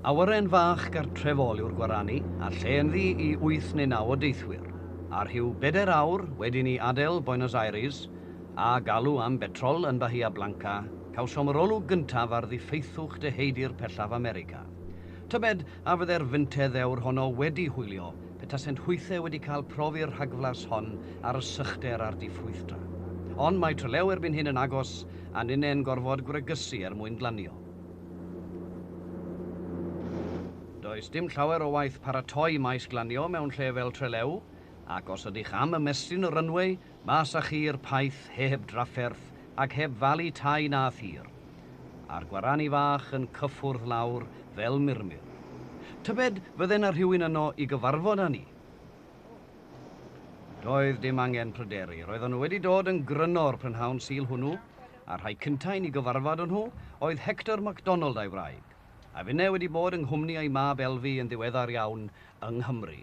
Awyren fach gartrefol yw'r Gwarani, a lle ynddi i wyth neu naw o deithwyr, a rhyw bedair awr wedi ni adael Buenos Aires, a galw am betrol yn Bahia Blanca, cawsom yr olwg gyntaf ar ddiffeithwch deheudir pellaf America. Tybed, a fydde'r fynte ddewr honno wedi hwylio petasent hwythe wedi cael profi'r rhagflas hon ar y sychder a'r diffrwythdra. Ond mae Trelew erbyn hyn yn agos, a ninnau'n gorfod gwregysu er mwyn glanio. Does dim llawer o waith paratoi maes glanio mewn lle fel Trelew, ac os ydych am ymestyn y runway, Mas a chi i'r paith heb drafferth ac heb falu tai na thir. A'r gwarani fach yn cyffwrdd lawr fel murmur. Tybed fydde 'na rhywun yno i gyfarfod â ni? Doedd dim angen pryderu. Roedden nhw wedi dod yn gryno o'r prynhawn Sul hwnnw, a'r rhai cynta' i ni gyfarfod â nhw oedd Hector MacDonald a'i wraig. A finne wedi bod yng nghwmni ei mab Elfi yn ddiweddar iawn yng Nghymru.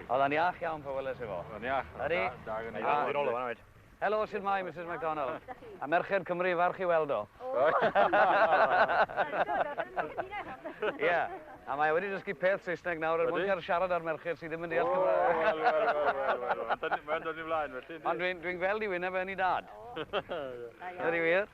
Oedd e'n iach iawn pan weles i fo. Oedd o'n iach. Oedd o'n da, da gynna' i. Dwi nôl o fan 'na 'fyd. Helo, shwt mae Misus McDonald? A merched Cymru falch i weld o. Ie, a mae e wedi dysgu peth Saesneg nawr er mwyn cal siarad â'r merched sy ddim yn deall Cymraeg. Wel, wel, wel, wel, wel, wel. Mae o'n dod i'n flaen felly, yndi? Ond dwi'n dwi'n gweld 'i wyneb e yn 'i dad. Ie. Ydi wir?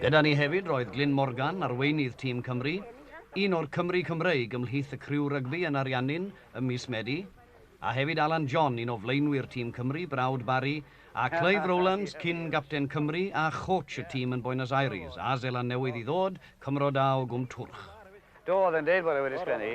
Gyda ni hefyd roedd Glyn Morgan, arweinydd tîm Cymru, un o'r Cymry Cymreig ymhlith y criw rygbi yn ariannu'n ym mis Medi, a hefyd Alan John, un o flaenwyr tîm Cymru, brawd Barry, a Clive Rowlands, cyn-gapten Cymru a chôtsh y tîm yn Boenos Aires a Seland Newydd i ddod, Cymro da o Gwm Twrch. Do, oedd e'n deud bod e wedi sgwennu.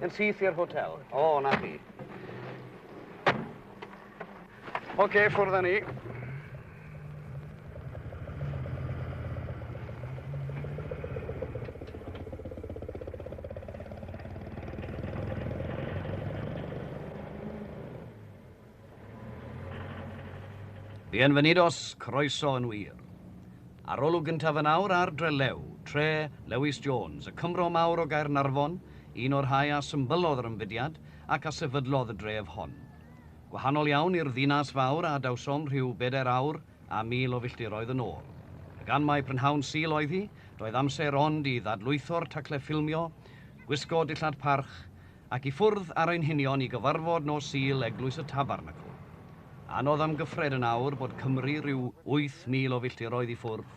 Yn syth i'r hotel. O, oh, na chi. Oce, okay, ffwrdd â ni. Bienvenidos, croeso yn wir. Arolwg gyntaf yn awr ar Drelew, Tre, Lewis Jones, y Cymro mawr o Gaernarfon, un o'r rhai a symbyllodd yr ymfudiad ac a sefydlodd y dref hon. Gwahanol iawn i'r ddinas fawr a adawsom rhyw bedair awr a mil o filltiroedd yn ôl. A gan mai prynhawn Sul oedd hi, doedd amser ond i ddadlwytho'r tacle ffilmio, gwisgo dillad parch, Ac i ffwrdd ar ein hunion i gyfarfod nos Sul Eglwys y Tabernacl. Anodd amgyffred yn awr bod Cymru rhyw 8,000 o filltiroedd i ffwrdd.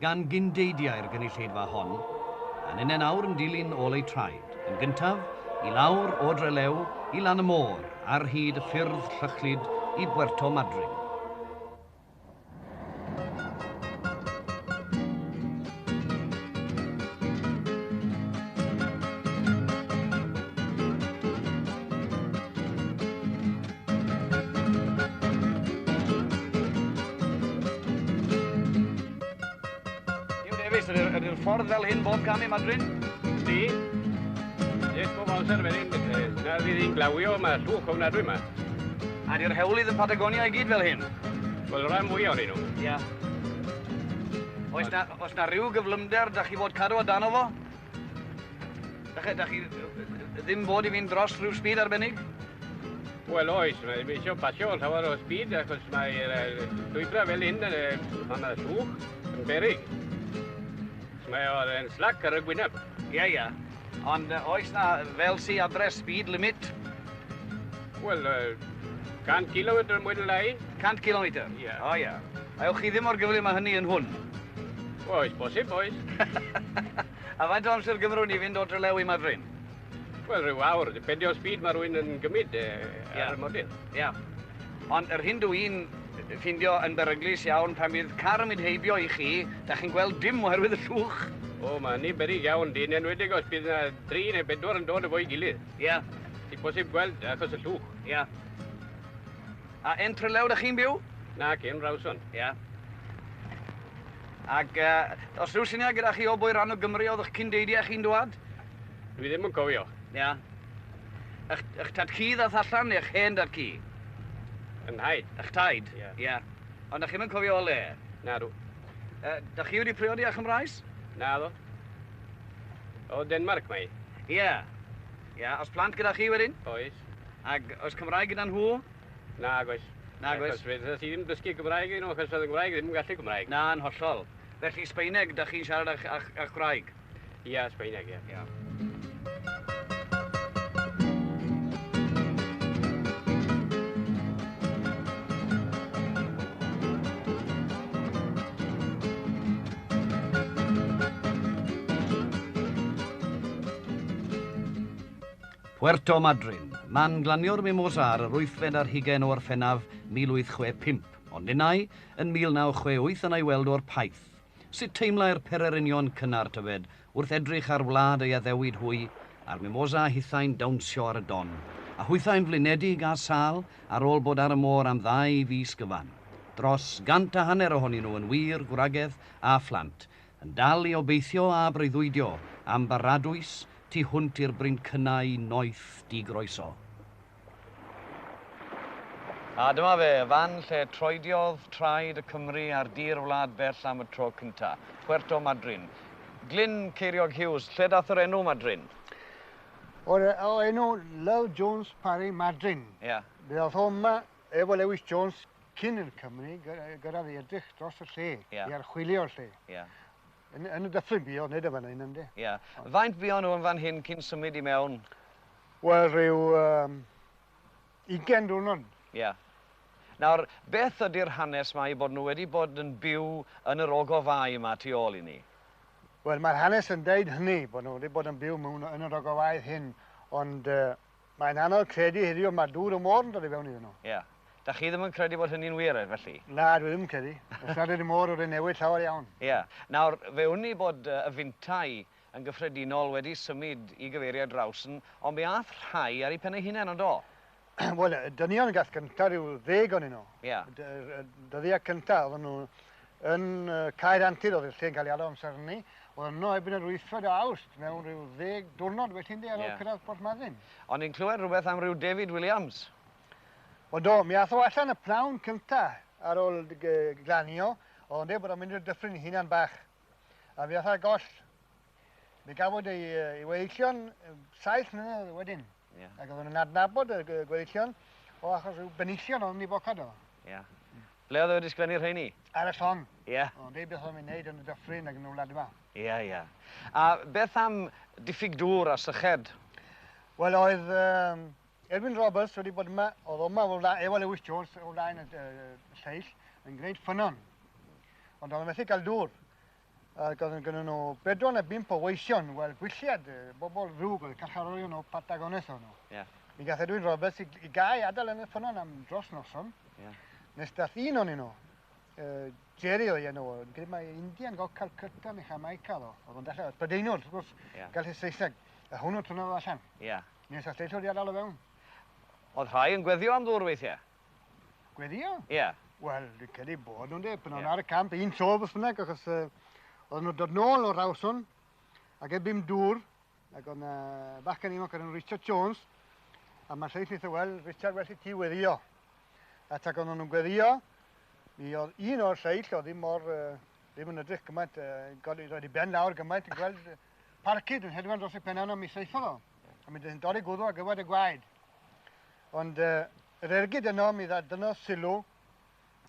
gan gyndeidiau'r gynulleidfa hon, a ninnau'n awr yn dilyn ôl eu traed, yn gyntaf, i lawr o Drelew i lan y môr ar hyd y ffyrdd llychlyd i Bwerto Madryn. Ydy'r ffordd fel hyn bob cam i Madrin? Di. Dim bob amser fel hyn. Na fydd hi'n glawio, mae llwch ofnadwy yma. A di'r hewlydd yn Patagonia i gyd fel hyn? Wel, rhan fwy o'n nhw. Ia. Oes na, oes na rhyw gyflymder da chi fod cadw o dan o fo? Dach, dach chi ddim bod i fynd dros rhyw speed arbennig? Wel oes, mae eisiau pasio yn llawer o speed achos mae'r llwybrau fel hyn yn fan y llwch yn berig. Mae o'n slac ar y gwyneb. Ie, yeah, ie. Yeah. Ond uh, oes na fel si adres speed limit? Wel, uh, 100 km mwyn lai. 100 km? Ie. Yeah. O, oh, ie. Yeah. Ewch chi ddim mor gyflym â hynny yn hwn. Oes bosib, oes. a faint o amser gymrwn i fynd o Drelew i Madryn? Wel, rhyw awr, dipendio o speed mae rwy'n yn gymryd e, ar yeah. y modydd. Ia. Yeah. Ond yr hyn dw i'n ffindio yn beryglus iawn pan bydd car yn mynd heibio i chi, da chi'n gweld dim oherwydd y llwch. O, mae hynny'n berig iawn, dyn enwedig os bydd yna dri neu bedwar yn dod efo'i gilydd. Ia. Yeah. Ti'n bosib gweld achos y llwch. Ia. Yeah. A yn Trelew dych chi'n byw? Naci, yn Rawson. Ia. Ac uh, os rhyw syniad gyda chi o bwy rhan o Gymru oedd eich cyndeidiau chi'n dwad? Dwi ddim yn cofio. Ia. Ych, ych tad ci ddath allan neu ych hen dad ci? Yn haid. Ych taid? Ia. Yeah. Yeah. Ond ych chi'n cofio o le? Na, dw. Uh, da chi wedi priodi â Chymraes? Na, ddo. O Denmark mae. Ia. Yeah. Ia, oes plant gyda chi wedyn? Oes. Ac oes Cymraeg gyda nhw? Nag oes. Nag oes. Achos fydda ti ddim dysgu Cymraeg i nhw, achos oedd y Gymraeg ddim yn gallu Cymraeg. Na, yn hollol. Felly Sbeineg, da chi'n siarad a'ch, a'ch, a'ch gwraig? Ia, Sbeineg, ia. ia. Puerto Madryn, man glanio'r Mimosa ar yr wythfed ar hugain o Orffennaf 1865, ond ninnau, yn 1968 yna'i weld o'r Paith. Sut teimlai'r pererinion cynnar tyfed wrth edrych ar wlad ei addewid hwy, a'r Mimosa hithau'n dawnsio ar y don, a hwythau'n flinedig â sâl ar ôl bod ar y môr am ddau fis gyfan. Dros gant a hanner ohonyn nhw yn wir gwragedd a phlant, Yn dal i obeithio a breuddwydio am baradwys tu hwnt i'r Brincynnau noeth digroeso. A dyma fe, y fan lle troediodd traed y Cymry ar dir wlad bell am y tro cynta. Puerto Madryn. Glyn Ceiriog Hughes, lle dath yr enw Madryn? O'r enw Lyle Jones Parry Madryn. Ie. Ddath o 'ma Efo Lewis Jones cyn yn Cymru, gyrraedd i edrych dros y lle, yeah. i archwilio'r lle. Yeah. Yn, yn y dyffryn bio, nid y fan hyn ynde. Ie. Yeah. Faint bio nhw yn fan hyn cyn symud i mewn? Wel, rhyw um, 20 diwrnod. Ie. Yeah. Nawr, beth ydy'r hanes mae i bod nhw wedi bod yn byw yn yr ogofau yma tu ôl i ni? Wel, mae'r hanes yn deud hynny, bod nhw wedi bod yn byw mewn yn yr ogofau hyn, ond uh, Mae'n anodd credu heddiw mae'r dŵr y môr yn dod i fewn iddyn nhw. Ie. Dach chi ddim yn credu bod hynny'n wir, felly? Na, dwi ddim yn credu. Os nad ydy'r môr wedi newid llawer iawn. Ie. Nawr, fe wn i bod y fintai yn gyffredinol wedi symud i gyfeiriad Rowson, ond mi aeth rhai ar eu pen eu hunain, ond do? Wel, y dynion gath cynta ryw ddeg onyn nhw. Ie. Dyddiau cynta, oedden nhw Yn Caer Antur oedd y lle yn cael ei alw amser hynny. Oedd yno ebyn yr wythfed o Awst mewn rhyw ddeg diwrnod wedyn de ar ôl cyrraedd Porthmadyn. O'n i'n clywed rhywbeth am ryw David Williams. O do, mi ath o allan y pnawn cynta ar ôl glanio, oedd o'n dweud bod o'n mynd i'r dyffryn hunan bach. A mi ath ar goll. Mi gafwyd ei, ei weillion saith mlynedd wedyn. Yeah. Ac oedden nhw'n adnabod y gweillion o achos rhyw benillion oedd yn ei bocad o. Yeah. Mm. Ble oedd e wedi sgwennu rheini? Ar y llong. Ie. Yeah. O'n dweud beth oedd yn ei yn y dyffryn ac yn y wlad yma. Ie, yeah, ie. Yeah. A beth am diffyg dŵr a syched? Wel, oedd um, Edwin Roberts wedi bod yma, oedd yma o flaen, efo Lewis Jones o flaen y, y, y lleill, yn gwneud ffynon. Ond oedd yn methu cael dŵr. Ac oedd gynnu nhw bedwar neu bimp o weision, wel, gwylliad, bobl ddrwg oedd carcharorion o Patagones o'n nhw. Yeah. Mi gath Edwin Roberts i, i gael ei adael yn y ffynnon am dros noson. Yeah. Nes dath un o'n nhw, uh, Jerry o'i enw, yn credu mae Indian go Calcutta neu Jamaica ddo. Oedd o'n dechrau, Prydeinwr, wrth gwrs, yeah. gael ei Saesneg. A hwnnw tynnodd allan. Ia. Yeah. Nes ath lleithwr i adael o fewn. Oedd rhai yn gweddio am ddŵr weithiau? Gweddïo? Ie. Wel, dwi'n credu bod nhw'n de, pan nhw'n ar y camp, un tro beth bynnag, achos uh, oedd nhw'n dod nôl o'r rawson, ac e bum dŵr, ac oedd yna bachgen ifanc o'r enw Richard Jones, a mae lleill eitha, wel, Richard, well i ti weddio. A tac oedd nhw'n gweddio, mi oedd un o'r lleill, oedd ddim mor, uh, ddim yn ydych gymaint, uh, roed i ben lawr gymaint, yn gweld parcyd yn hedfan dros y penna yna, mi seithodd o. A mi ddyn dorri gwddw ar gyfer y gwaed. Ond uh, yr ergyd yno, mi dda dyno sylw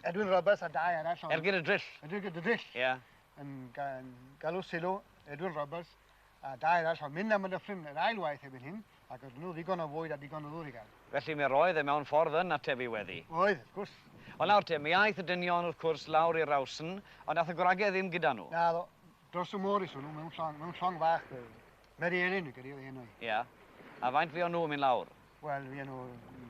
Edwin Roberts a dau arall. Ergyd y drill. Ergyd y drill. Ie. Yeah. Yn, ga, yn galw sylw Edwin Roberts a dau arall o'n mynd am y dyffryn yr ail waith efo'n hyn, ac oedd nhw ddigon o fwyd a digon o ddŵr i gael. Felly mi roedd e mewn ffordd yn atefu weddi. Oedd, wrth gwrs. Ond nawr te, mi aeth y dynion wrth cwrs lawr i'r rawsn, ond nath y gwragedd ddim gyda nhw. Na, Dros y môr is hwnnw, mewn llong, mewn llong fach. Mary Ellen y gyda enw i. Ia. A faint fi o'n nhw yn mynd lawr? Wel, fi nhw,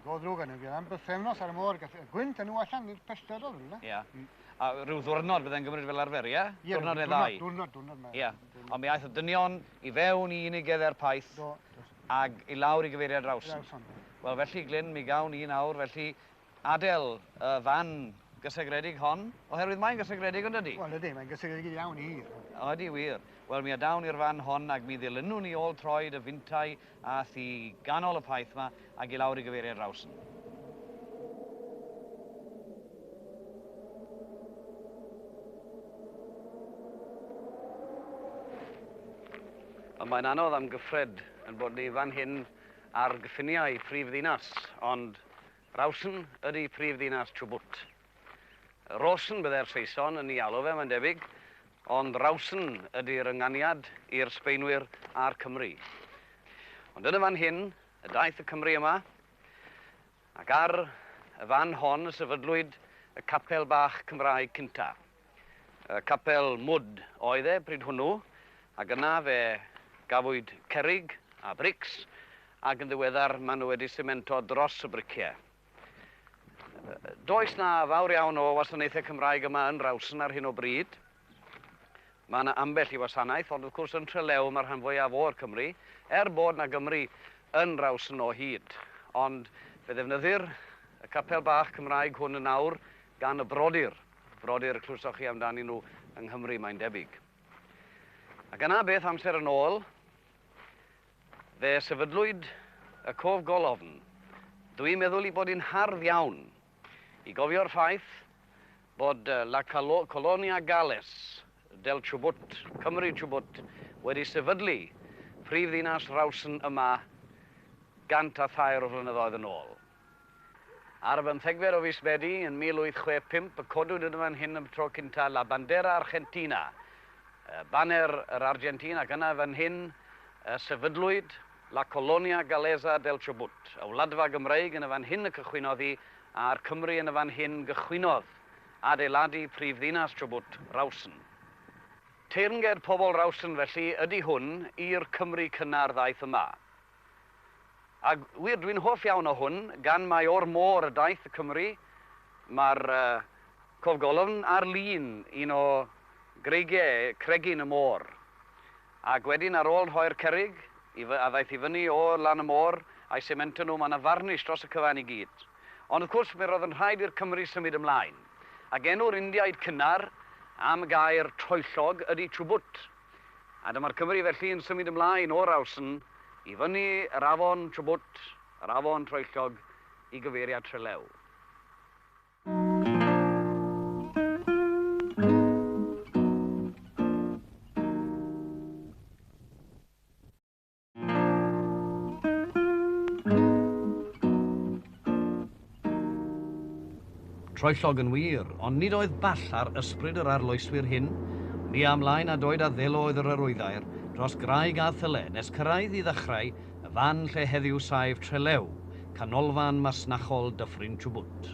go ddrwg yn fi, am bythefnos ar y môr, gwynt yn nhw allan i'r pellter oedd rhywle. Ia. Mm. A rhyw ddwrnod bydde'n gymryd fel arfer, ia? Ie, ddwrnod neu ddau. Ddwrnod, ddwrnod, ddwrnod. Ia. Ond mi aeth y dynion i fewn i unig edder paith. Do, do. Ag i lawr i gyfeiriad Rawson. Rawson. Wel, felly, Glyn, mi gawn ni nawr, felly, Adel y fan gysegredig hon, oherwydd mae'n gysegredig, yn dydy? Wel, ydy, mae'n gysegredig iawn i hir. O, ydy wir. Wel, mi adawn i'r fan hon ac mi ddilynwn ni ôl troed y fintai ath i ganol y paith yma ac i lawr i gyfeiriad Rawson. Ond mae'n anodd am gyffred yn bod ni fan hyn ar gyffiniau prif ddinas, ond Rawson ydy prif ddinas Chubut. Rawson byddai'r Saeson yn ei alw fe, mae'n debyg, ond Rawson ydy'r ynganiad i'r Sbaenwyr a'r Cymry. Ond yn y fan hyn y daeth y Cymry yma, ac ar y fan hon y sefydlwyd y capel bach Cymraeg cynta. Y capel mwd oedd e bryd hwnnw, ac yna fe gafwyd cerrig a brics, ac yn ddiweddar maen nhw wedi simento dros y briciau. Does na fawr iawn o wasanaethau Cymraeg yma yn Rawson ar hyn o bryd. Mae yna ambell i wasanaeth, ond wrth gwrs yn Trelew mae'r rhan fwyaf o'r Cymry, er bod na Gymry yn Rawson o hyd. Ond fe ddefnyddir y capel bach Cymraeg hwn yn awr gan y brodyr. Brodyr, clywsoch chi amdanyn nhw yng Nghymru, mae'n debyg. Ac yna, beth amser yn ôl, fe sefydlwyd y cof golofn. Dwi'n meddwl i bod yn hardd iawn i gofio'r ffaith bod La Colonia Gales del Chubut, Cymru Chubut, wedi sefydlu prif ddinas Rawson yma gant a thair o flynyddoedd yn ôl. Ar bymthegfed o fis Medi yn 1865 y codwyd yn fan hyn am y tro cyntaf La Bandera Argentina, Baner yr Argentîn, ac yna fan hyn y sefydlwyd La Colonia Galesa del Chubut, y Wladfa Gymreig yn y fan hyn y cychwynnodd hi, a'r Cymry yn y fan hyn gychwynnodd adeiladu prif ddinas Chubut, Rawson. Teyrnged pobl Rawson felly ydi hwn i'r Cymry cynnar ddaeth yma. Ac wir, dwi'n hoff iawn o hwn, gan mai o'r môr y daeth y Cymry. Mae'r cof golofn ar lun un o greigiau cregyn y môr. Ac wedyn, ar ôl rhoi'r cerrig i fy- a ddaeth i fyny o lan y môr, a'i semento nhw, mae yna farnish dros y cyfan i gyd. Ond wrth gwrs, mi roedd yn rhaid i'r Cymry symud ymlaen. Ac enw'r Indiaid cynnar am y gair troellog ydy chubut. A dyma'r Cymry felly yn symud ymlaen o'r Alsn i fyny yr afon Chubut, yr afon troellog, i gyfeiriad Trelew. Troellog yn wir, ond nid oedd ball ar ysbryd yr arloeswyr hyn. Ni a mlaen a doed a ddelo oedd yr arwyddair, dros graig a thyle, nes cyrraedd i ddechrau y fan lle heddiw saif Trelew, canolfan masnachol Dyffryn Chubut.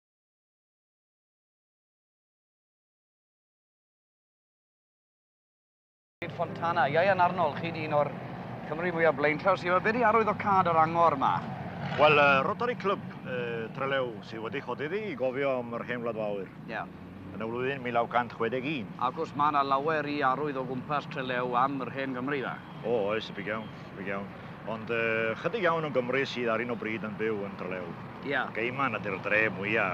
Fontana. Ieuan Arnold, chi'n un o'r Cymru mwyaf blaenllaw sy'n yma. Be di arwydd o cad yr angor yma? Wel, uh, Rotary Club uh, Trelew sydd wedi chodi ddi i gofio am yr hen wlad fawr. Ie. Yeah. Yn y flwyddyn 1961. Ac os mae yna lawer i arwydd o gwmpas Trelew am yr hen Gymru dda? O, oes, y big iawn. Ti'n iawn. Ond yy, chydig iawn o'n Gymry sydd ar un o bryd yn byw yn Trelew. Ia. Yeah. Geiman ydy'r dre mwya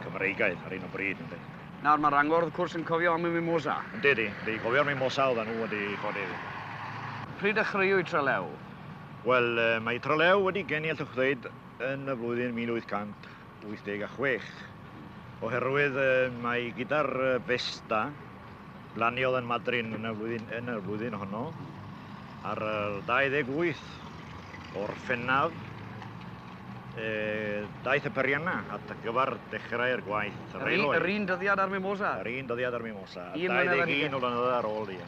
Cymreigaidd ar un o bryd, ynddi. Nawr mae Rangor wrth cwrs yn cofio am y mimosa. Yndi, yndi. Yndi, cofio'r mimosa oedden nhw wedi chodi iddi. Pryd ddechreuwyd Trelew? Wel, mae Trelew wedi geni allwch ddweud yn y flwyddyn 1886. Oherwydd mae gyda'r Festa, Blaniodd yn Madrin yn y flwyddyn, yn y flwyddyn honno ar y 28 o'r Ffennaf e, daeth y perianna at y gyfer dechrau'r gwaith Yr un, yr un dyddiad ar Mimosa? Yr un dyddiad ar Mimosa, 21 o flynyddoedd ar ôl i.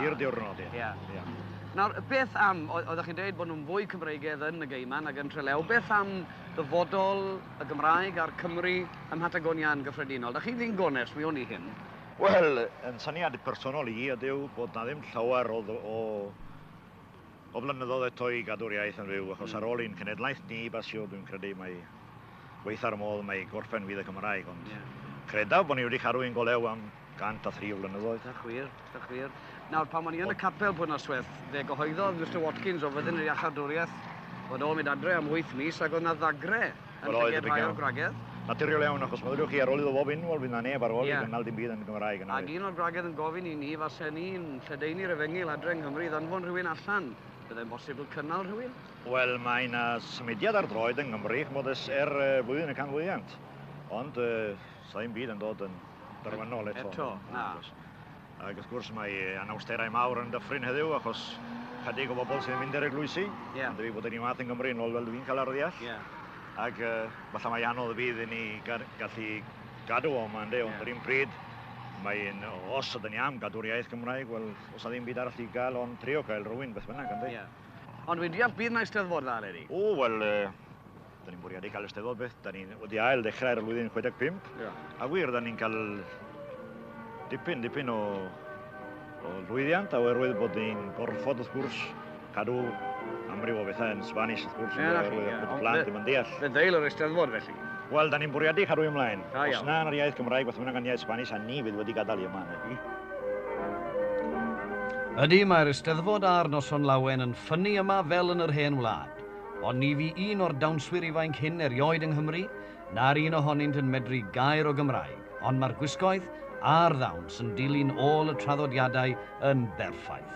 I'r diwrnod, ie. Yeah. Yeah. Nawr, beth am, oeddech chi'n dweud bod nhw'n fwy Cymreigedd yn y Geiman ac yn Trelew, beth am ddyfodol y Gymraeg a'r Cymry ym Mhatagonia yn gyffredinol? Da chi ddyn gonest, mi o'n i hyn. Wel, yn syniad personol i ydyw bod 'na ddim llawer o o o flynyddoedd eto i gadw'r iaith yn fyw, achos ar ôl i'n cenedlaeth ni basio, dwi'n credu mai gweitha'r modd mae gorffen fydd y Gymraeg, ond credaf bod ni wedi cadw ein golew am 103 o flynyddoedd. Da chwir, da chwir. Nawr, pan o'n i yn y capel pwy nosweth, fe gyhoeddodd Mr Watkins o fyddin yr iachardwriaeth fod o'n mynd adre am wyth mis ac oedd 'na ddagre Yn llygad rhai o'r gwragedd? Naturiol iawn, achos meddyliwch chi, ar ôl iddo fo fynd, wel, fydd 'na neb ar ôl i gynnal dim byd yn y Gymraeg, yna fydd. Ac un o'r gwragedd yn gofyn i ni, fasen ni'n lledaenu'r efengyl adre yng Nghymru i ddanfon rhywun allan, byddai'n bosibl cynnal rhywun? Wel, mae 'na symudiad ar droed yng Nghymru, ch'mod, ers er flwyddyn y canfyddiant, ond 'sa ddim byd yn dod yn derfynol eto. Eto, na. Ac wrth gwrs mae anawsterau mawr yn dyffryn heddiw achos chydig o bobl sy'n mynd i'r eglwysi. Yeah. Ond dwi bod yn ei math yng Nghymru yn ôl fel dwi'n cael arddeall. Yeah. Ac uh, falle mae anodd fydd i ni gallu gadw o yma, ynddi, ond yeah. yr un pryd mae'n, os ydyn ni am gadw'r iaith Gymraeg, wel, os ydyn byd arall i gael ond trio cael rhywun beth bynnag, ynddi. Yeah. Ond dwi'n deall bydd yna eisteddfod dda, Leri? O, wel, uh, Da ni'n bwriadu cael Eisteddfod beth, da ni wedi ail ddechrau'r flwyddyn 65, yeah. a wir, da ni'n cael dipyn, dipyn o, o lwyddiant, a oherwydd bod ni'n gorfod, wrth gwrs, cadw amryw o bethau yn Spanish, wrth gwrs, yeah, oherwydd yeah. bod y plant ddim yn deall. Fe ddeil yr Eisteddfod, felly? Wel, da ni'n bwriadu cadw ymlaen. Da, Os na yn yr iaith Gymraeg, beth bynnag yn iaith Spanish, a ni fydd wedi gadael i yma. Ydy, mae'r Eisteddfod a'r noson lawen yn ffynnu yma fel yn yr hen wlad. Ond ni fu un o'r dawnswyr ifainc hyn erioed yng Nghymru, na'r un ohonynt yn medru gair o Gymraeg, ond mae'r gwisgoedd a'r ddawns yn dilyn ôl y traddodiadau yn berffaith.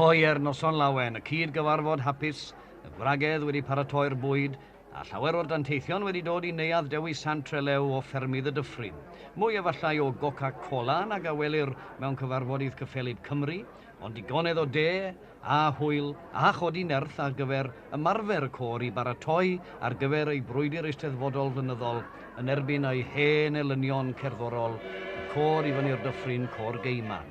Hoer Noson Lawen, y cyd-gyfarfod hapus, y wragedd wedi paratoi'r bwyd, A llawer o'r danteithion wedi dod i Neuadd Dewi Sant Trelew o ffermydd y Dyffryn. Mwy efallai o Goca Cola nag a welir mewn cyfarfodydd cyffelyb Cymru, ond digonedd o de, a hwyl, a chodi nerth ar gyfer ymarfer y côr i baratoi ar gyfer ei brwydr eisteddfodol flynyddol yn erbyn ei hen elynion cerddorol, y côr i fyny'r Dyffryn, Côr Geiman.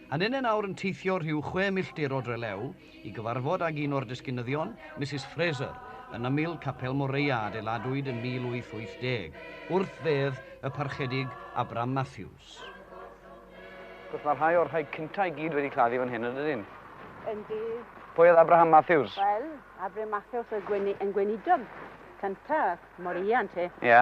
Yn un nawr yn teithio rhyw chwe milltir o Drelew i gyfarfod ag un o'r disgynyddion, Misus Fraser, yn ymyl Capel Moreia adeiladwyd yn 1880, wrth fedd y Parchedig Abram Matthews. Wrth gwrs, mae rhai o'r rhai cynta i gyd wedi claddu fan hyn yn dydyn? Yndi. Pwy oedd Abraham Matthews? Wel, Abraham Matthews oedd gweinidog cynta Moreia, ynte? Ie.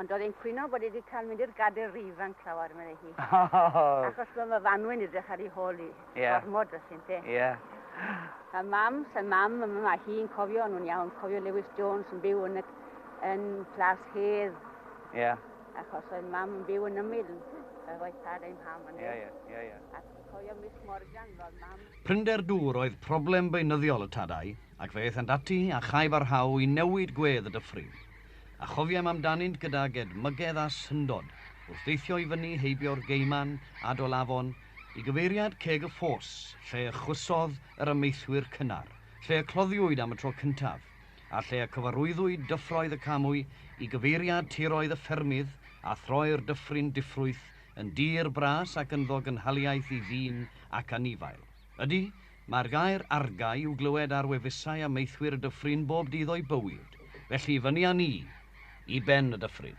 Ond oedd e'n cwyno bod e wedi cael mynd i'r gadair rif fan clawar, meddai hi. Achos bod fy fanwy'n edrych ar ei hôl i. Yeah. Gormod o sy'n te. Yeah. A mam, sy'n mam, mae hi'n cofio, nhw'n iawn, cofio Lewis Jones yn byw yn, y, yn Plas Hedd. Ie. Yeah. Achos oedd mam yn byw yn ymyl, oedd oedd tad ein ham yn Ie, ie, ie, ie. Ac cofio Miss Morgan, roedd mam... Prinder dŵr oedd problem beunyddiol y tadau, ac fe aethant ati a chai barhau i newid gwedd y dyffryn. A chofiaim amdanynt gydag edmygedd a syndod, wrth deithio i fyny heibio'r Gaiman, Adol Afon, i gyfeiriad Ceg y Ffos, lle y chwysodd yr amaethwyr cynnar, lle y cloddiwyd am y tro cyntaf, a lle y cyfarwyddwyd dyffroedd y Camwy, i gyfeiriad tiroedd y ffermydd, a throi'r dyffryn diffrwyth yn dir bras ac ynddo gynhaliaeth i ddyn ac anifail. Ydy, mae'r gair argae i'w glywed ar wefusau a maethwyr y dyffryn bob dydd o'i bywyd, felly i fyny â ni i ben y dyffryn.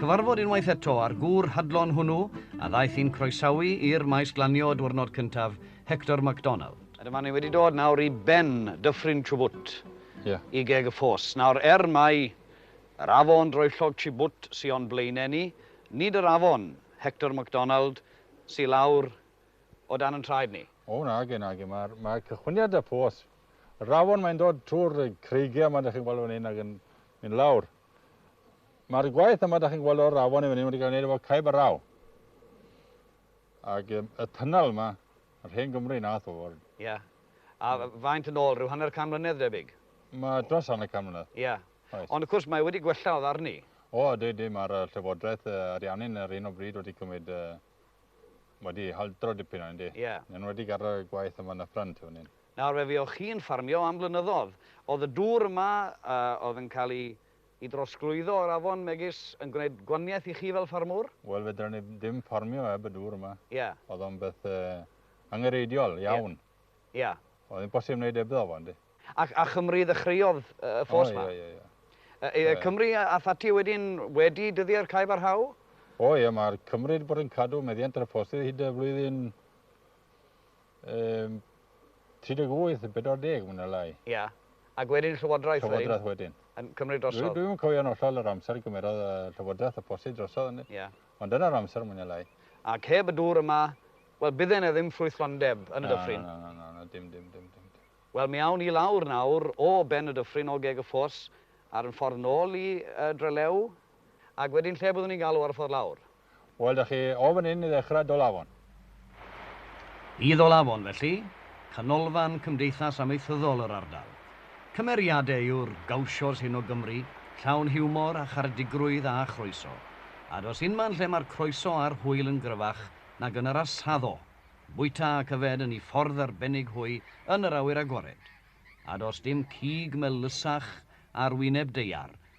Cyfarfod unwaith eto â'r gŵr hadlon hwnnw a ddaeth i'n croesawu i'r maes glanio diwrnod cyntaf, Hector McDonald. A dyma ni wedi dod nawr i ben Dyffryn Chubut, i geg y ffos. Nawr, er mai yr afon droellog Chubut sy o'n blaenau ni, nid yr afon, Hector McDonald, sy lawr o dan yn traed ni. O, nage, nage. Mae cychwyniad 'da ffos. Yr afon, mae'n dod trwy'r creigiau 'ma, dach chi'n gweld fan hyn, ac yn mynd lawr. Mae'r gwaith yma, da chi'n gweld o'r afon yn fan hyn, wedi cael ei wneud efo caib a raw. Ac um, y tunnel yma, yr hen Gymru na tho. Ie. Yeah. A hmm. faint yn ôl, rhyw hanner can mlynedd debyg? Mae dros hanner can mlynedd. Ie. Yeah. Right. Ond wrth gwrs, mae wedi gwella o ddarni. O, dwi, dwi, mae'r llywodraeth uh, ariannu'n yr un o bryd wedi cymryd, uh, wedi haldro dipyn o'n di. Ie. Yeah. Yn wedi gadael y gwaith yma yn y ffrant fan hyn. Nawr fe fuoch chi'n ffarmio am flynyddodd. Oedd y dŵr yma a oedd yn cael ei ei drosglwyddo o'r afon megis yn gwneud gwaniaeth i chi fel ffarmwr? Wel fedra ni ddim ffarmio heb y dŵr yma. Ie. Oedd o'n beth angenrheidiol iawn. Ie. Ie. Oedd hi'n bosib wneud hebddo fo yndi. Ac a Chymru ddechreuodd y ffos ma? O ie ie ie. Yy Cymru ath ati wedyn wedi dyddie'r cae barhau? O ie ma'r Cymru wedi bod yn cadw meddiant ar y ffosydd hyd y flwyddyn Yym, 38 neu 40 mwy na lai. Ia. Ac wedyn Llywodraeth wedyn? Llywodraeth wedyn. Yn cymryd drosodd? Dwi'm yn cofio'n hollol yr amser y gymerodd y Llywodraeth y posti drosodd hynny. Ia. Ond dyna'r amser mwy na lai. Ac heb y dŵr yma, wel, bydde yna ddim ffrwythlondeb yn y dyffryn. Na, na, na, na, dim, dim, dim, dim. Wel, mi awn i lawr nawr o ben y dyffryn, o geg y ffos, ar yn ffordd nôl i Drelew, ac wedyn lle byddwn ni'n galw ar y ffordd lawr? Wel, da chi o fan hyn i ddechrau, Dolafon. I Dholafon, felly, canolfan cymdeithas amaethyddol yr ardal. Cymeriadau yw'r gauchos hyn o Gymru, llawn hiwmor a charedigrwydd a chroeso. A does unman lle mae'r croeso a'r hwyl yn gryfach nag yn yr Asaddo. Bwyta ac yfed yn ei ffordd arbennig hwy yn yr awyr agored. A does dim cig melysach ar wyneb daear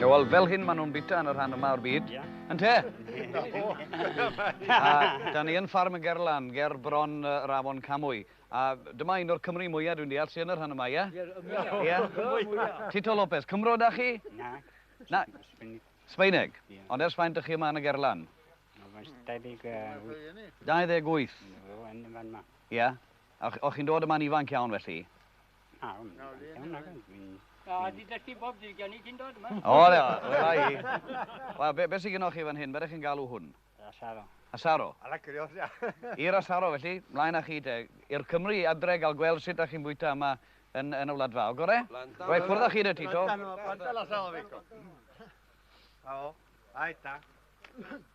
Ie, wel, fel hyn maen nhw'n bita yn y rhan yma o'r byd. Yn te? A da ni yn ffarm y Gerlan, ger bron uh, yr afon Camwy. A dyma un o'r Cymru mwyaf dwi'n deall sy'n yn y rhan yma, ie? Ie, mwyaf. Tito Lopez, Cymro da chi? Na. Na. Sbeineg. Ond ers faint ydych chi yma yn y Gerlan? 28. 28? Ie. O'ch chi'n dod yma'n ifanc iawn felly? Na, o'n i'n nagan. Na, di dysgu bob dydd gen i cyn dod yma. O, le, wela i. Wel, be, be sy'n gynnwch chi fan hyn? Beth chi'n galw hwn? Asaro. Asaro? Ala curios, ia. I'r asaro, felly, mlaen â chi te. I'r Cymru i adre gael gweld sut ydych chi'n bwyta yma yn, yn y wlad fawr, gore? Roi ffwrdd â chi de, Tito. Planta la salvico. Awo, aita.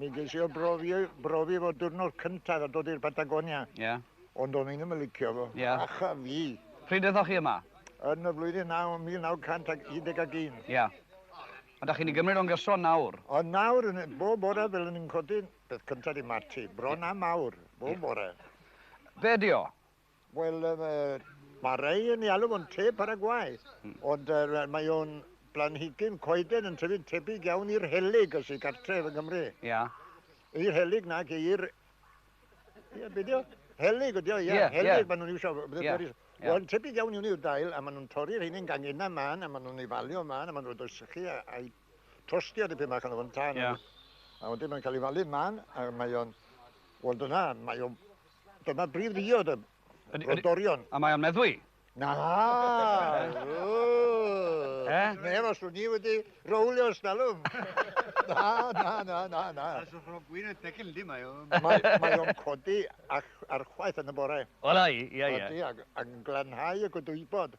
Mi ges i o brofi, brofi fo diwrnod cyntaf a dod i'r Patagonia. Ie. Yeah. Ond o'n i ddim yn licio fo. Ie. Yeah. Acha fi. Pryd ydych chi yma? Yn y flwyddyn 9, 1911. Ie. Yeah. A da chi'n ei gymryd o'n gyson nawr? O nawr, yn, bob bore fel yn i'n codi, beth cyntaf i mati, bron yeah. am awr, bob yeah. bore. Be di o? Wel, mae rhai yn ei alw fo'n te Paraguay, ond mae o'n blanhigyn coeden yn tyfu'n tebyg iawn i'r helyg y sy'n cartref yng Nghymru. Ia. I'r helyg na, i'r... Ia, beth yw? Helyg ydi o, ia. Helyg, maen nhw'n iwsio... Wel, tebyg iawn i hwnnw yw'r dail, a maen nhw'n torri'r hyn yn gangen yna man, a maen nhw'n ei falio man, a maen nhw'n rhoi'r sychu a'i tostio dipyn bach arno fo'n tân yeah. a wedyn mae'n cael ei falu man a mae o'n wel dyna mae o'n dyna brif ddiod y rodorion a mae o'n meddwi na eh? neb os ni wedi rowlio stalwm na na na na na a so rhwng gwyn y tegel di mae o'n mae o'n codi ar chwaith yn y bore wel ai ia ia ac yn glanhau y gwydwybod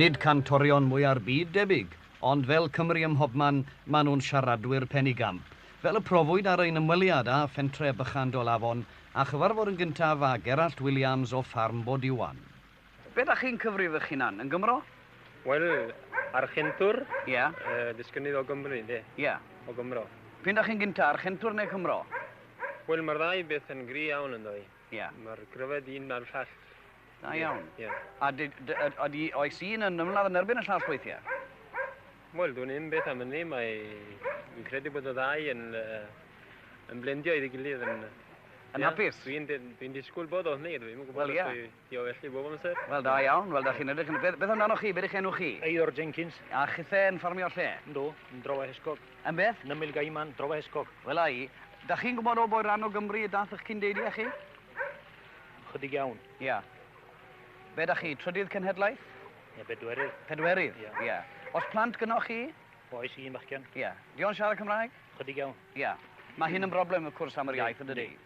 Nid cantorion mwya'r byd debyg, ond fel Cymry ym mhobman, maen nhw'n siaradwyr pen i gamp, fel y profwyd ar ein ymweliad â Phentre Bychan Dolafon a chyfarfod yn gyntaf â Gerallt Williams o Ffarm Bod Iwan. Be dach chi'n cyfrif eich hunan? Yn Gymro? Wel, Archentwr. Ia. Yy, disgynydd o Gymru, ynde? Ia. O Gymro. P'un dach chi'n gynta, Archentwr neu Cymro? Wel, mae'r ddau beth yn gry iawn ynddo i. Ia. Mae'r gryfed un na'r llall. Da iawn. Ia. A ydy, oes un yn ymladd yn erbyn y llall weithiau? Wel, dwi'n un beth am hynny, mae... Dwi'n credu bod y ddau yn, uh, yn blendio iddi gilydd yn... Yn hapus? Dwi'n dwi disgwyl bod o hynny, dwi'n gwybod... Wel, ia. Diolch i chi bob amser. Wel da iawn, wel da chi'n edrych yn y peth. Beth amdanoch chi, be dych enw chi? Eidor Jenkins. A chithe yn ffarmio lle? Yndw, yn Drofa Hesgog. Yn beth? Nymyl Gaiman, Drofa Hesgog. Wel a i. Da chi'n gwybod o bwy ran o Gymru y dath ych cyn-deiliau chi? Chydig iawn. Ia. Be da chi, trydydd cenhedlaeth? Ia, bedwerydd. Pedwerydd? Ia. Ia. Os plant gynnoch chi? Oes, un bachgen. Ia. Di o'n siarad Cymraeg? Chydig iawn. Ia. Mae hyn yn broblem wrth cwrs am yr iaith, yn dydi? Yndi.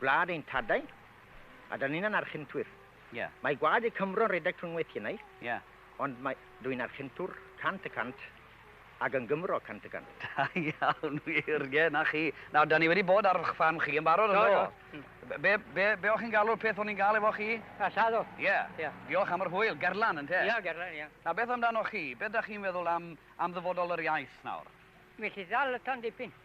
Gwlad ein tadau, a dan ni'n anarchintwyr. Ie. Mae gwaed y Cymro'n rhedeg trwy ngweithiennau. Ie. Ond mae, dw i'n archintwr cant y cant, ac yn Gymro cant y cant. Da iawn, wir, ie, 'na chi. Nawr, dan ni wedi bod ar 'ch ffarm chi yn barod, yn do? Do. Be, be, be o'ch chi'n galw'r peth o'n i'n gael efo chi? A, lladdo. Ie. Ie. Diolch am yr hwyl, gerlan, ynte? Ie, gerlan, ie. Nawr, beth amdanoch chi? Be da chi'n feddwl am, am ddyfodol yr iaith nawr? Well i ddal y tan dipyn.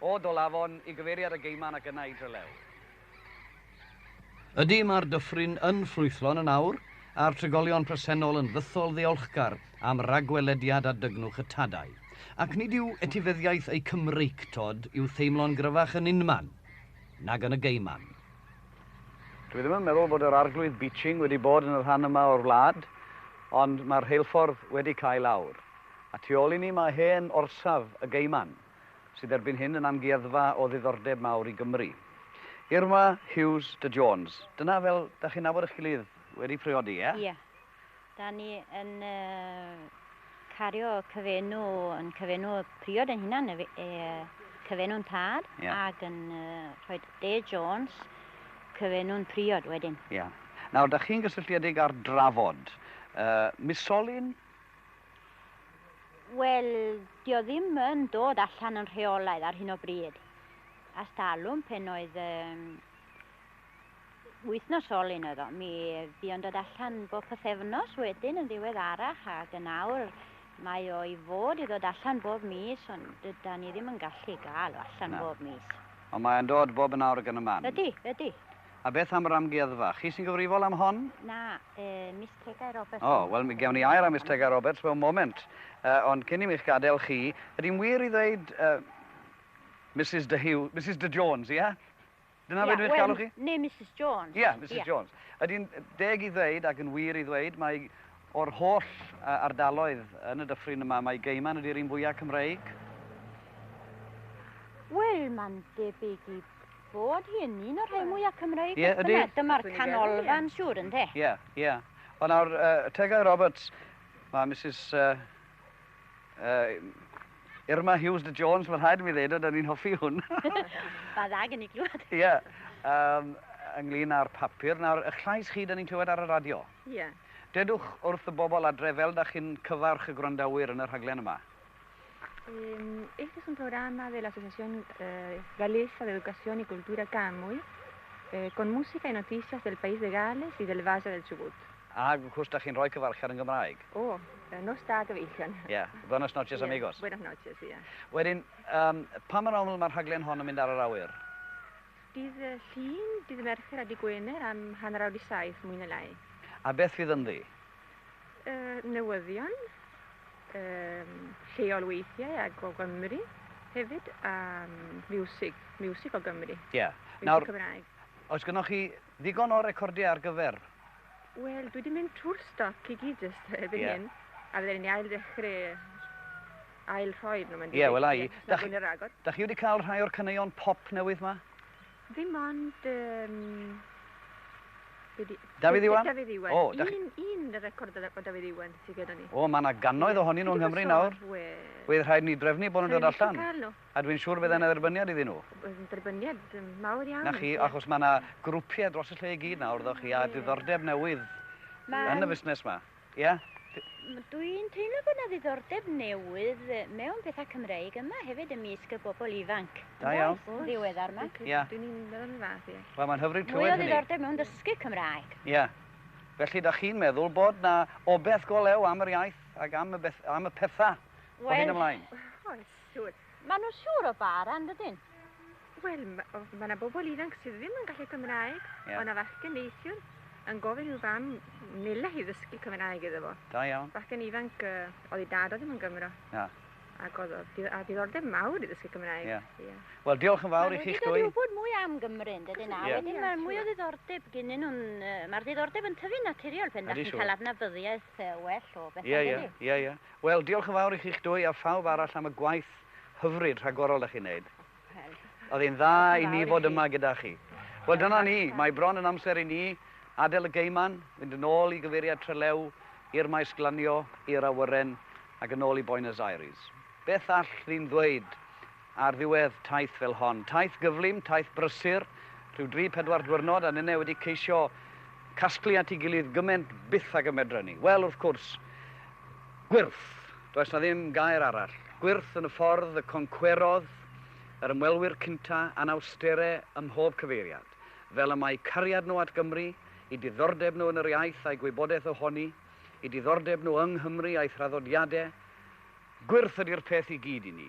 O Dolafon i gyfeiriad y Geiman ac yna i Drelew. Ydy, mae'r dyffryn yn ffrwythlon yn awr, a'r trigolion presennol yn fythol ddiolchgar am ragwelediad a dygnwch y tadau. Ac nid yw etifeddiaeth eu Cymreictod i'w theimlo'n gryfach yn unman nag yn y Geiman. Dwi ddim yn meddwl bod yr Arglwydd Beeching wedi bod yn y rhan yma o'r wlad, ond mae'r rheilffordd wedi cael awr. A tu ôl i ni mae hen orsaf y Geiman. sydd erbyn hyn yn amgueddfa o ddiddordeb mawr i Gymru. Irma Hughes de Jones. Dyna fel da chi'n nabod eich gilydd wedi priodi, ie? Ie. Da ni yn cario cyfenw, yn cyfenw priod yn hunan, y e, cyfenw'n tad, yeah. ac yn rhoi De Jones cyfenw'n priod wedyn. Ie. Yeah. Nawr, da chi'n gysylltiedig ar drafod uh, misolyn Wel, di o ddim yn dod allan yn rheolaidd ar hyn o bryd. A stalwm pen oedd um, wythnos ol un oedd o. Mi fi o'n dod allan bob pythefnos wedyn yn ddiwedd arach ac yn awr mae o i fod i ddod allan bob mis ond dyda ni ddim yn gallu gael o allan no. bob mis. Ond mae'n dod bob yn awr gan y man. Ydy, ydy. A beth am yr amgueddfa? Chi sy'n gyfrifol am hon? Na, yy, Miss Tegau Roberts. O, wel, mi gewn ni air am Miss Tegau Roberts mewn moment. Yy, ond cyn i mi'ch gadael chi, ydy'n wir i ddweud, yy, Misus de Huw, Misus de Jones, ie? Dyna beth dwi'n eich galw chi? Ie, wel, neu Misus Jones. Ie, Misus Jones. Ydy'n deg i ddweud, ac yn wir i ddweud, mae o'r holl ardaloedd yn y dyffryn yma, mae Gaiman ydy'r un fwyaf Cymreig? Wel, mae'n debyg i Bod hi yn un o'r rhai mwyaf Cymreig beth bynnag, dyma'r canolfan siŵr ynde? Ie, ie. Wel nawr, Tegau Roberts, mae Mrs Irma Hughes de Jones, mae'n rhaid i mi ddeud, oedden ni'n hoffi hwn. Mae'n dda gen i glywed. Ie, ynglyn â'r papur. Nawr, y llais chi, da ni'n clywed ar y radio. Ie. Dedwch wrth y bobl adre fel da chi'n cyfarch y gwrandawyr yn y rhaglen yma. Este es un programa de la Asociación eh, Galesa de Educación y Cultura Camuy, eh, con música y noticias del país de Gales y del Valle del Chubut. A cwrs da chi'n rhoi cyfarchar yn Gymraeg? O, oh, nos da gyfeillion. Ie, yeah. buenos noches yeah. amigos. Buenos noches, ie. Yeah. Wedyn, um, pa mor aml mae'r rhaglen hon yn mynd ar yr awyr? Dydd y llun, dydd y mercher a dydd Gwener am hanner awr i saith, mwy na lai. A beth fydd ynddi? Uh, newyddion, Yym, lleol weithiau ac o Gymru hefyd, a miwsig, miwsig o Gymru. Ie. Yeah. Nawr, Cymraeg. oes gynnwch chi ddigon o recordiau ar gyfer? Wel, dwi wedi mynd trwy'r stoc i gyd jyst erbyn yeah. hyn, a fydden ni'n ail ddechrau ail rhoi nhw. Ie, yeah, wel ai. Da chi wedi cael rhai o'r caneuon pop newydd ma? Dim ond... Um, be di... Dafydd Iwan? Dafydd Iwan. O, da chi... Un, un record o Dafydd Iwan sydd gyda ni. O, mae yna gannoedd ohonyn nhw yng Nghymru nawr. Wedd rhaid ni drefnu bod nhw'n dod allan. A dwi'n siŵr bydd yna dderbyniad iddyn nhw. Dderbyniad mawr iawn. Na chi, achos mae yna grwpiau dros y lle i gyd nawr, ddo chi, a diddordeb newydd yn y fusnes yma. Ia? Dwi'n teimlo bod 'na ddiddordeb newydd mewn pethau Cymreig yma hefyd ymysg y bobl ifanc. Da iawn. Yn ddiweddar yma. Ia. Dwi'n union yn fath, ia. Wel, mae'n hyfryd clywed hynny. Mwy o ddiddordeb mewn dysgu Cymraeg. Ia. Felly, da chi'n meddwl bod 'na obeth go lew am yr iaith ac am y, beth, am y pethau o hyn ymlaen? Wel, oes, siŵr. Mae nhw siŵr o ba ran dydyn? Wel, mae yna bobl ifanc sydd ddim yn gallu Cymraeg, yeah. ond a fachgen neithiwr yn gofyn i'w fam nila hi ddysgu Cymraeg iddo fo. Da iawn. Fachgen ifanc, uh, oedd ei dad o ddim yn Gymro. Na. Ac oedd a ddiddordeb mawr i ddysgu Cymraeg. Yeah. Yeah. Wel, diolch yn fawr i chi'ch dwy. Mae'n wybod mwy am Gymru yn dydyn nawr. Yeah. Wedyn mae mwy o ddiddordeb gynnyn nhw'n... Uh, Mae'r ddiddordeb yn tyfu'n naturiol pen da chi'n cael adnabyddiaeth lot yy well o bethe Ie, ie, ynddi? ie, ie. Wel, diolch yn fawr i chi'ch dwy a phawb arall am y gwaith hyfryd rhagorol 'dach chi'n neud. Wel, O'dd e'n dda diolch yn i ni fawr i fod chi. yma gyda chi. Wel, Yn dyna ni. hollol. Mae bron yn amser i ni adel y geyman, fynd yn ôl i gyfeiriad Trelew, i'r maes glanio, i'r awyren, ac yn ôl i Boenys Aires. Beth all rhyn ddweud Ar ddiwedd taith fel hon, taith gyflym, taith brysur, rhyw dri pedwar dwyrnod a ninne wedi ceisio casglu at ei gilydd gyment byth ag y medren ni, wel, wrth cwrs, gwyrth! Does 'na ddim gair arall. Gwyrth yn y ffordd y concwerodd yr ymwelwyr cynta anawstere ym mhob cyfeiriad, fel y mae cariad nhw at Gymru, eu diddordeb nhw yn yr iaith a'i gwybodaeth ohoni, eu diddordeb nhw yng Nghymru a'i thraddodiade. Gwyrth ydi'r peth i gyd i ni.